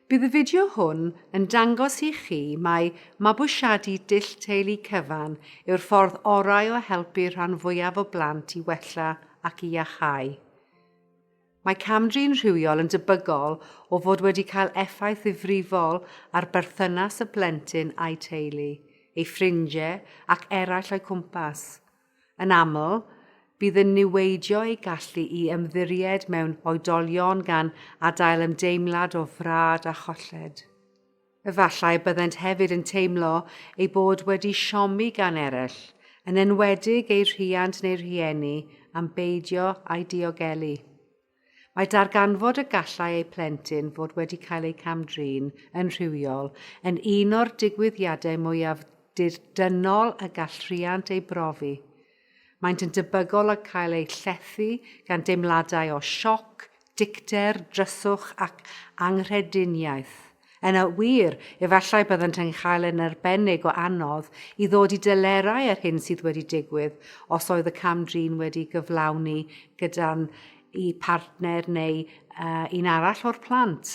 Bydd y fideo hwn yn dangos i chi mai mabwysiadu dull teulu cyfan yw'r ffordd orau o helpu rhan fwyaf o blant i wella ac i iachau. Mae camdrin rhywiol yn debygol o fod wedi cael effaith ddifrifol ar berthynas y plentyn a'i teulu, ei ffrindiau ac eraill o'i cwmpas. Yn aml, bydd yn niweidio ei gallu i ymddiried mewn oedolion gan adael ymdeimlad o frad a cholled. Efallai byddent hefyd yn teimlo eu bod wedi siomi gan eraill, yn enwedig eu rhiant neu rhieni, am beidio â'i diogelu. Mae darganfod y gallai eu plentyn fod wedi cael eu cam-drin yn rhywiol yn un o'r digwyddiadau mwyaf dirdynnol y gall rhiant ei brofi. Maent yn debygol o cael eu llethu gan deimladau o sioc, dicter, dryswch ac anghrediniaeth. Yn wir, efallai byddant yn cael yn arbennig o anodd i ddod i delerau â'r hyn sydd wedi digwydd os oedd y cam-drin wedi gyflawni gyda'n i partner neu uh, un arall o'r plant.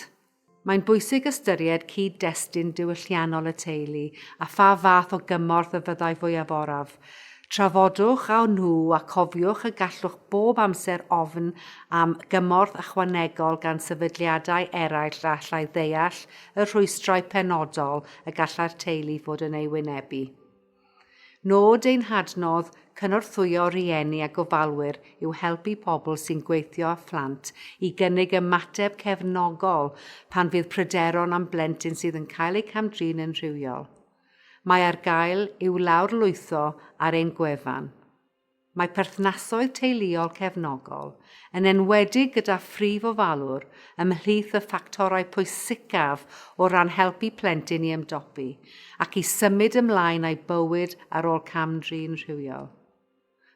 Mae'n bwysig ystyried cyd-destun diwylliannol y teulu a pha fath o gymorth y fyddai fwyaf oraf, Trafodwch â nhw a cofiwch y gallwch bob amser ofn am gymorth ychwanegol gan sefydliadau eraill a allai ddeall y rhwystrau penodol y gallai'r teulu fod yn eu wynebu. Nod ein hadnodd cynorthwyo rhieni a gofalwyr yw helpu pobl sy'n gweithio â phlant i gynnig ymateb cefnogol pan fydd pryderon am blentyn sydd yn cael eu cam-drin yn rhywiol. Mae ar gael i'w lawrlwytho ar ein gwefan. Mae perthnasoedd teuluol cefnogol, yn enwedig gyda phrif ofalwr, ymhlith y ffactorau pwysicaf o ran helpu plentyn i ymdopi ac i symud ymlaen â'i bywyd ar ôl cam-drin rhywiol.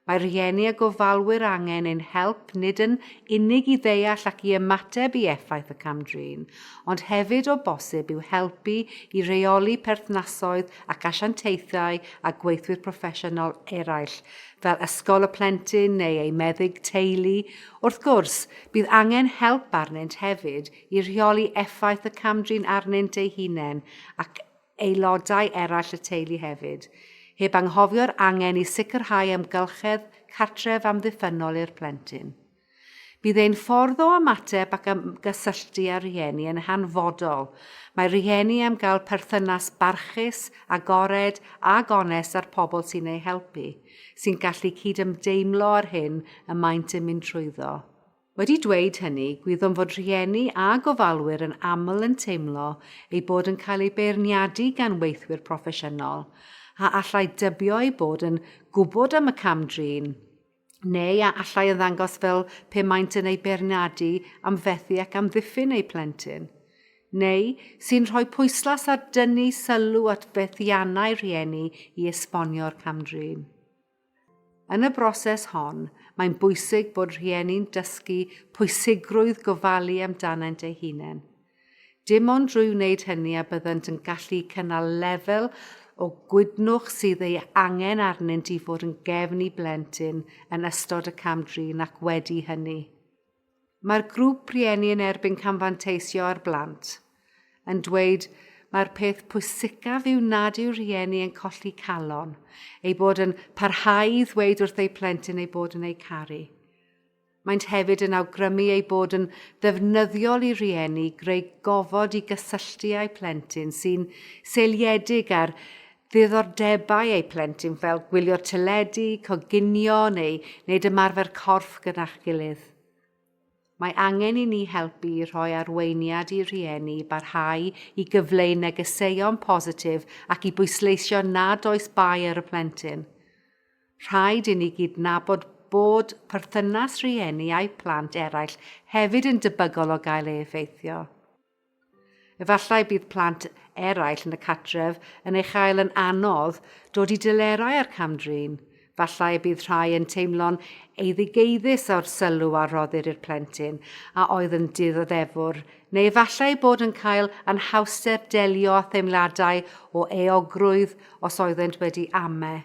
Mae rhieni a gofalwyr angen ein help nid yn unig i ddeall ac i ymateb i effaith y cam-drin, ond hefyd o bosib i'w helpu i reoli perthnasoedd ac asiantaethau â gweithwyr proffesiynol eraill, fel ysgol y plentyn neu ei meddyg teulu. Wrth gwrs, bydd angen help arnynt hefyd i rheoli effaith y cam-drin arnynt eu hunain ac aelodau eraill y teulu hefyd, heb anghofio'r angen i sicrhau amgylchedd cartref amddiffynnol i'r plentyn. Bydd ein ffordd o ymateb ac ymgysylltu â rhieni yn hanfodol, mae rhieni am gael perthynas barchus, agored a gonest â'r pobl sy'n eu helpu, sy'n gallu cydymdeimlo â'r hyn y maent yn mynd trwyddo. Wedi dweud hynny, gwyddom fod rhieni a gofalwyr yn aml yn teimlo eu bod yn cael eu beirniadu gan weithwyr proffesiynol, a allai dybio eu bod yn gwybod am y cam-drin, neu a allai ymddangos fel pe maent yn eu beirniadu am fethu ac amddiffyn eu plentyn, neu sy'n rhoi pwyslais ar dynnu sylw at fethiannau rhieni i esbonio'r cam-drin. Yn y broses hon, mae'n bwysig bod rhieni'n dysgu pwysigrwydd gofalu amdanynt eu hunain. Dim ond drwy wneud hynny a byddant yn gallu cynnal lefel o gwydnwch sydd ei angen arnynt i fod yn gefn i blentyn yn ystod y cam-drin ac wedi hynny. Mae'r grŵp rieni yn erbyn camfanteisio ar blant, yn dweud mae'r peth pwysicaf yw nad yw'r rhieni yn colli calon, ei bod yn parhau i ddweud wrth eu plentyn ei bod yn eu caru. Maent hefyd yn awgrymu ei bod yn ddefnyddiol i rieni greu gofod i gysylltu â'u plentyn sy'n seiliedig ar ddiddordebau eu plentyn fel gwylio teledu, coginio neu wneud ymarfer corff gyda'ch gilydd. Mae angen i ni helpu i rhoi arweiniad i rieni i barhau i gyfleu negeseuon positif ac i bwysleisio nad oes bai ar y plentyn. Rhaid i ni gydnabod bod perthynas rieni a'u plant eraill hefyd yn debygol o gael ei effeithio. Efallai bydd plant eraill yn y cartref yn ei chael yn anodd dod i delerau â'r cam-drin. Efallai y bydd rhai yn teimlo'n eiddigeiddus o'r sylw a roddir i'r plentyn a oedd yn dioddefwr, neu efallai eu bod yn cael anhawster delio â theimladau o euogrwydd os oeddent wedi ame,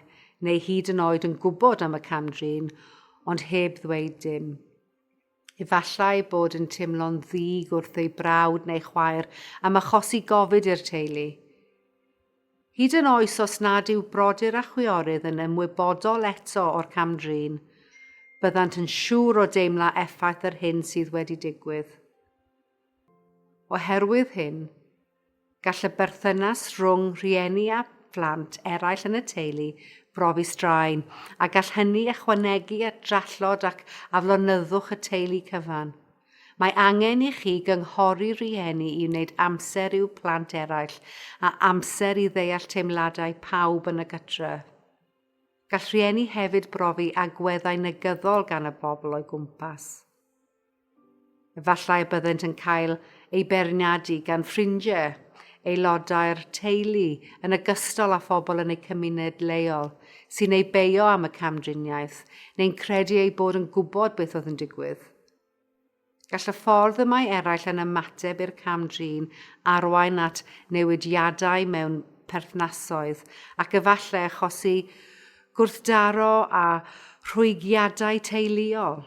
neu hyd yn oed yn gwybod am y cam-drin, ond heb ddweud dim. Efallai bod yn teimlo'n ddig wrth ei brawd neu chwaer am achosi gofid i'r teulu. Hyd yn oes os nad yw brodyr a chwiorydd yn ymwybodol eto o'r cam-drin, byddant yn siŵr o deimla effaith yr hyn sydd wedi digwydd. Oherwydd hyn, Gall y berthynas rhwng rhieni a phlant eraill yn y teulu brofi straen, a gall hynny ychwanegu at drallod ac aflonyddwch y teulu cyfan. Mae angen i chi gynghori rhieni i wneud amser i'w plant eraill a amser i ddeall teimladau pawb yn y gytref. Gall rhieni hefyd brofi agweddau negyddol gan y bobl o'u gwmpas. Efallai y byddent yn cael eu beirniadu gan ffrindiau, aelodau'r teulu yn ogystal â phobl yn eu cymuned leol sy'n eu beio am y camdriniaeth neu'n credu eu bod yn gwybod beth oedd yn digwydd. Gall y ffordd y mae eraill yn ymateb i'r cam-drin arwain at newidiadau mewn perthnasoedd ac efallai achosi gwrthdaro a rhwygiadau teuluol.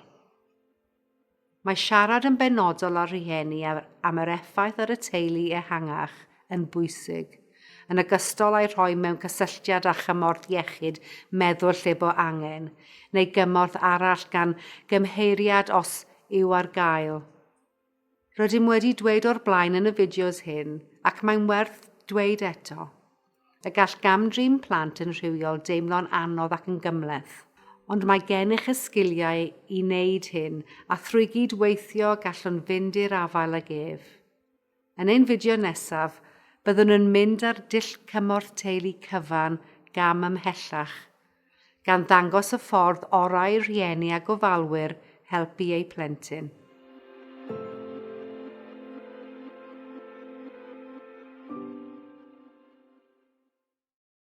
Mae siarad yn benodol â rhieni am yr effaith ar y teulu ehangach yn bwysig, yn ogystal â'i rhoi mewn cysylltiad â chymorth iechyd meddwl lle bo angen, neu gymorth arall gan gymheiriad os yw ar gael. Rydym wedi dweud o'r blaen yn y fideos hyn, ac mae'n werth dweud eto, y gall gam-drin plant yn rhywiol deimlo'n anodd ac yn gymhleth, ond mae gennych y sgiliau i wneud hyn a thrwy gyd-weithio gallwn fynd i'r afael ag ef. Yn ein fideo nesaf, byddwn yn mynd â'r dull cymorth teulu cyfan gam ymhellach, gan ddangos y ffordd orau i rhieni a gofalwyr helpu eu plentyn.